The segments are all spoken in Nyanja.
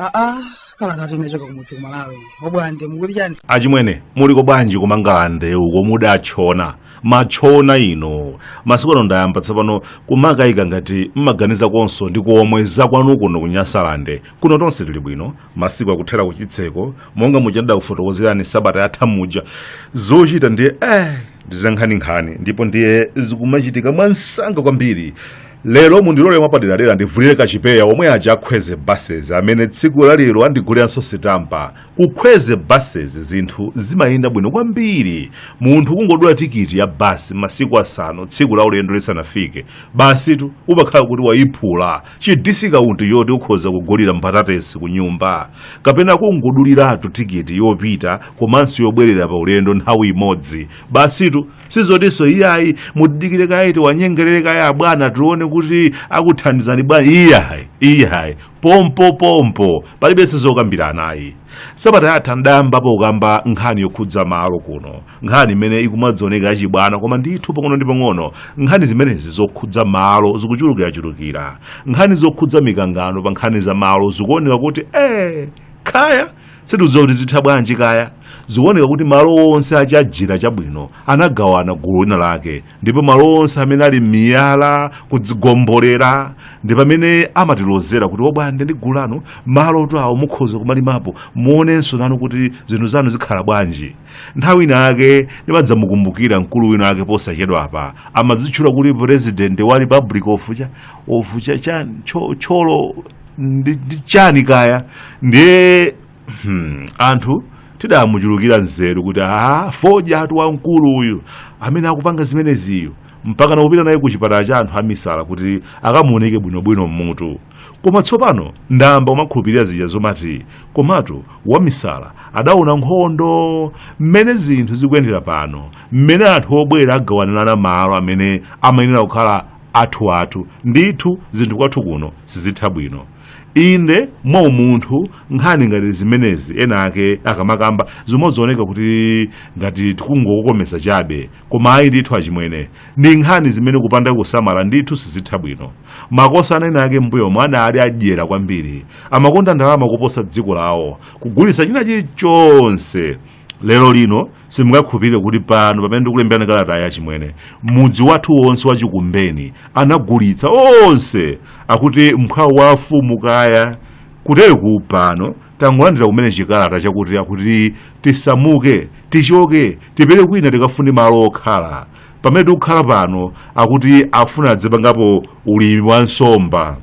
aa kalatatu inachoka kumudzi kumalawi obwande mukuti chani achimwene muliko bwanji kumangalande uko mudatchona matchona inu masiku ano ndayamba tsopano kumakayika ngati mmaganizakonso ndi komwe zakwanu kuno kunyasalande kuno tonse tili bwino masiku akuthera kuchitseko monga muja ndidakufotokozerani sabata yatha muja zochita ndiye eh ndizankhaninkhani ndipo ndiye zikumachitika mwansanga kwambiri lero mundilole mwapaderadera ndivulire kachipewa omwe aja akwezy buses amene tsiku lalero andiguliranso sitampa kukwezy buses zinthu zimayenda bwino kwambiri munthu kungodula tikiti ya basi masiku asanu tsiku la ulendo lisanafike basitu umakhala kuti wayiphula chidisikaunti choti ukhoza kugulira mbatatesi ku nyumba kapena kungoduliratu tikiti yopita komanso yobwerera pa ulendo nthawi imodzi basitu sizotinso iyayi mutidikire kaye tiwanyengerere kaye abwana tione kuti akuthandizani bwanji iyayi iyayi pompo pompo palibenso zokambirana ayi sabata yatha ndidayambapo kukamba nkhani yokhudza malo kuno nkhani imene ikumadzioneka yachibwana koma ndithu pang'ono ndi pang'ono nkhani zimenezi zokhudza malo zikuchulukirachulukira nkhani zokhudza mikangano pa nkhani za malo zikuoneka kuti eh kaya sitidziwa kuti zitha bwanji kaya zikuoneka kuti malo onse achajira chabwino anagawana gulu lina lake ndipo malo onse amene ali miyala kudzigombolera ndi pamene amatilozera kuti obwande ndi gulu lanu malotu awo mukhoza kumalimapo muonenso nanu kuti zinthu zanu zikhala bwanji nthawi ina yake ndimadzamukumbukira mkulu wina ake posachedwa apa amadzitchula kuti president wa republic of cha of cha chani thyo- thyolo ndi ndi chani kaya ndiye Hmm, anthu tidamuchulukira nzeru kuti a fodyatu wamkulu uyu amene akupanga zimeneziyu mpaka nakupita naye ku chipatala cha anthu amisala kuti akamuoneke bwinobwino mmutu koma tsopano ndayamba kumakhulupirira zija zomati komatu wamisala adaona nkhondo mmene zinthu zikuyendera pano mmene anthu obwera agawanirana malo amene amayenera kukhala athu athu ndithu zinthu kwathu kuno sizitha bwino inde mwa umunthu nkhani ngati zimenezi ena ake akamakamba zimazioneka kuti ngati tikungokokomeza chabe koma ayi ndithu achimwene ndi nkhani zimene kupanda kusamala ndithu sizitha bwino makosana ena ake mbuyomu anali adyera kwambiri amakonda ndalama kuposa dziko lawo kugulitsa china chilichonse lero lino simungakhulupirire kuti pano pamene ndikulemberani kalatayi achimwene mudzi wathu wonse wa chikumbeni anagulitsa wonse akuti mphwawo wa afumu kaya kuteroku pano tangolandira kumene chikalata chakuti akuti tisamuke tichoke tipite kwina tikafune malo okhala pamene tikukhala pano akuti afuna adzipangapo ulimi wa nsomba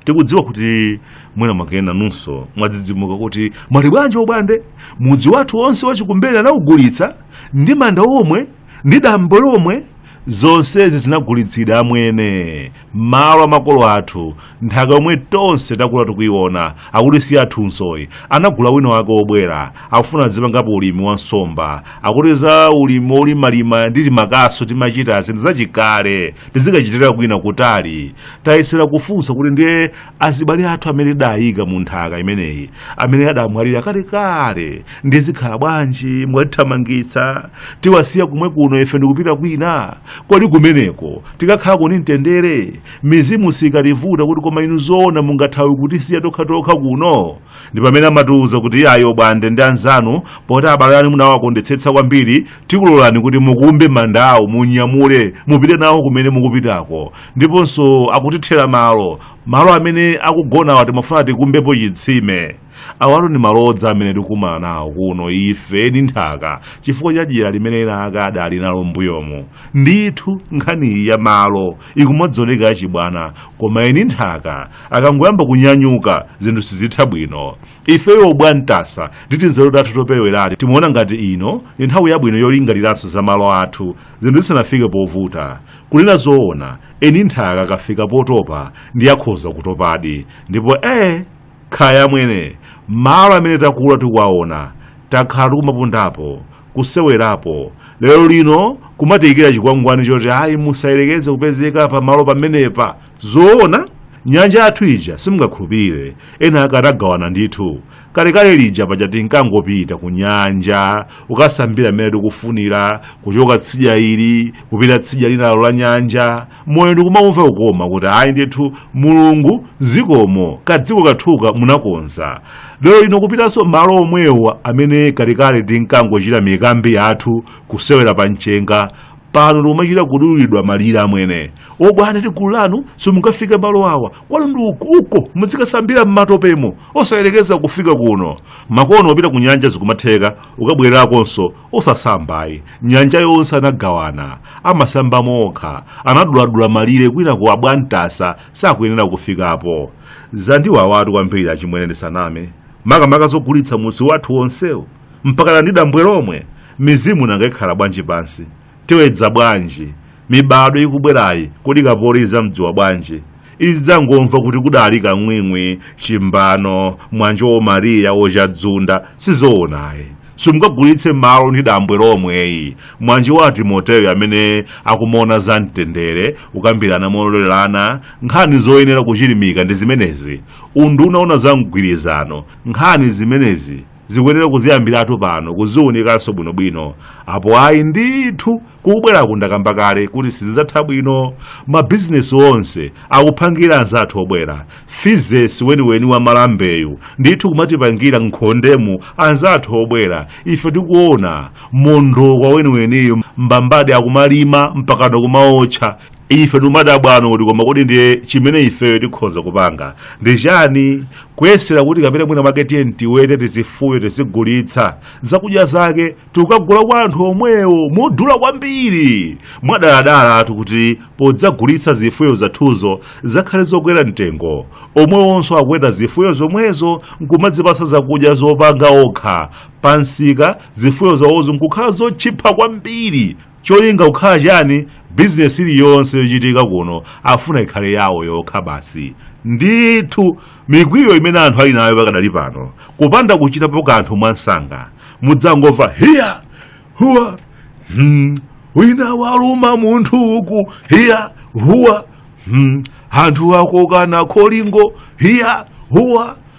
tikudziwa kuti mwina mwake nanunso mwadzidzimuka kuti mwati bwanji obwande mudzi wathu wonse wachikumbeni anawugulitsa ndi manda omwe ndi dambo lomwe zonsezi zinagulitsidwa amwene malo amakolo athu nthaka yomwe tonse takula tikuyiona akuti si yathunsoyi anagula wina wake obwera akufuna azipangapo ulimi wa nsomba akuti za ulimi olimalima ndi timakaso timachita nzinthu zachikale tizikachitira kwina kutali tayesera kufunsa kuti ndiye azibale athu amene tidayika mu nthaka imeneyi amene adamwalira kalekale ndiye zikhala bwanji mwatithamangitsa tiwasiya kumwe kuno ife ndikupita kwina kodi kumeneko tikakhala kuli mtendere mizimu sikativuta kuti koma inu zoona mungathawe kutisiya tokhatokha kuno ndi pamene amatiuza kuti ayi obwande ndi anzanu poti abale anu munawakondetsetsa kwambiri tikulolani kuti mukumbe mandawo munyamule mupite nawo kumene mukupitako ndiponso akutithera malo amene akugonawa timafuna tikumbepo chitsime awatu ndi malodza amene tikumana nawo kuno ife eni nthaka chifukwa cha dyera limene ena ake adali nalo mbuyomu ndithu nkhaniyi ya malo ikumaoneka yachibwana koma eni nthaka akangoyamba kunyanyuka zinthu sizitha bwino ife obwantasa ndi tinzeru tathu toperewerati timaona ngati ino ndi nthawi yabwino yolingaliranso za malo athu zinthu zisanafike povuta Kunena zoona, eni nthaka akafika potopa ndiye akhoza kutopadi. Ndipo ee, kaya amwene, malo amene takula tikuwaona, takhala tikumapondapo, kusewerapo, lero lino kumatiikira chikwangwani choti ayi musayerekeze kupezeka pamalo pamenepa! Zoona? Nyanja yathu ija simungakhulupirire, ena ake anagawana ndithu. kalekale lija paja tinkangopita ku nyanja kukasambira mmene tikufunira kuchoka tsidya ili kupita tsidya linalo la nyanja moyo ndikumawumva kukoma kuti ayi ndithu mulungu zikomo kadziko kathuka munakonza lero lino kupitanso malo omwewo amene kalekale tinkangochita mikambi yathu kusewera pa mchenga pano tikumachita kudulidwa malire amwene obwana ndi gulu lanu simungafike malo awa kwanu ndi uko uko muzikasambira m'matopemo osayerekeza kufika kuno makono ukapita ku nyanja zikumatheka kukabwererakonso osasambayi nyanja yonse anagawana amasambamo okha anaduladula malire kwinaku abwantasa sakuyenera kufikapo zandiwawatu kwambiri achimwene ndisaname makamaka zogulitsa mudzi wathu wonsewo mpakana ndi dambwe lomwe mizimu nanga ikhala bwanji pansi tiwedza bwanji mibadwo ikubwerayi kodi kapoli izamdziwa bwanji izidzangomva kuti kudali kang'wing'wi chimbano mwanjo womariya wochadzunda sizoonayi simungagulitse malo ndi dambwe lomweyi mwanjo wa timoteyo amene akumaona za mtendere kukambirana mololerana nkhani zoyenera kuchilimika ndi zimenezi unduna woona za mgwirizano nkhani zimenezi zikuyenera kuziyambiratu pano kuziunikanso bwinobwino apo ayi ndithu kukubweraku ndakamba kale kuti sizidzatha bwino mabizinesi onse akuphangira anzathu obwera fizesi weniweni wa malambeyu ndithu kumatipangira nkhondemu anzathu obwera ife tikuona mondokwa weniweniyu mbambadi akumalima mpakano kumaotcha ife timadabwano kuti koma kodi ndiye chimene ifeyo tikhoza kupanga ndi chani kuyesera kuti kapena mwina mwake tiyeni tiwete tizifuyo tizigulitsa zakudya zake tikagula kwa anthu omwewo modula kwambiri mwadaladalatu kuti podzagulitsa zifuyo zathuzo zakhale zokwera mtengo omwewonso akuweta zifuyo zomwezo nkumadzipatsa zakudya zopanga okha pamsika zifuyo zawozo nkukhala zotchipa kwambiri Cholinga kukhala chani? Bizinesi iliyonse yochitika kuno afuna ikhale yawo yokha basi. Ndithu mikwiyo imene anthu ali nayo pakadali pano, kupanda kuchitapo kanthu mwamsanga, mudzangomva hiya huwa hmm, wina waluma munthu uku hiya huwa hmm, anthu akokana kholingo hiya huwa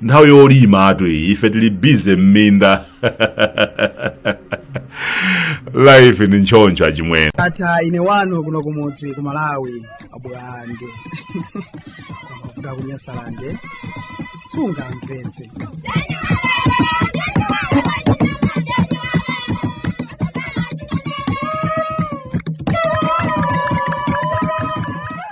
nthawi yolimatu iyi ife tili bize m'minda life ndi ntchoncho achimwene ata ine wanu kuno kumudzi ku malawi abwande kuda kunyasalande sungamvetse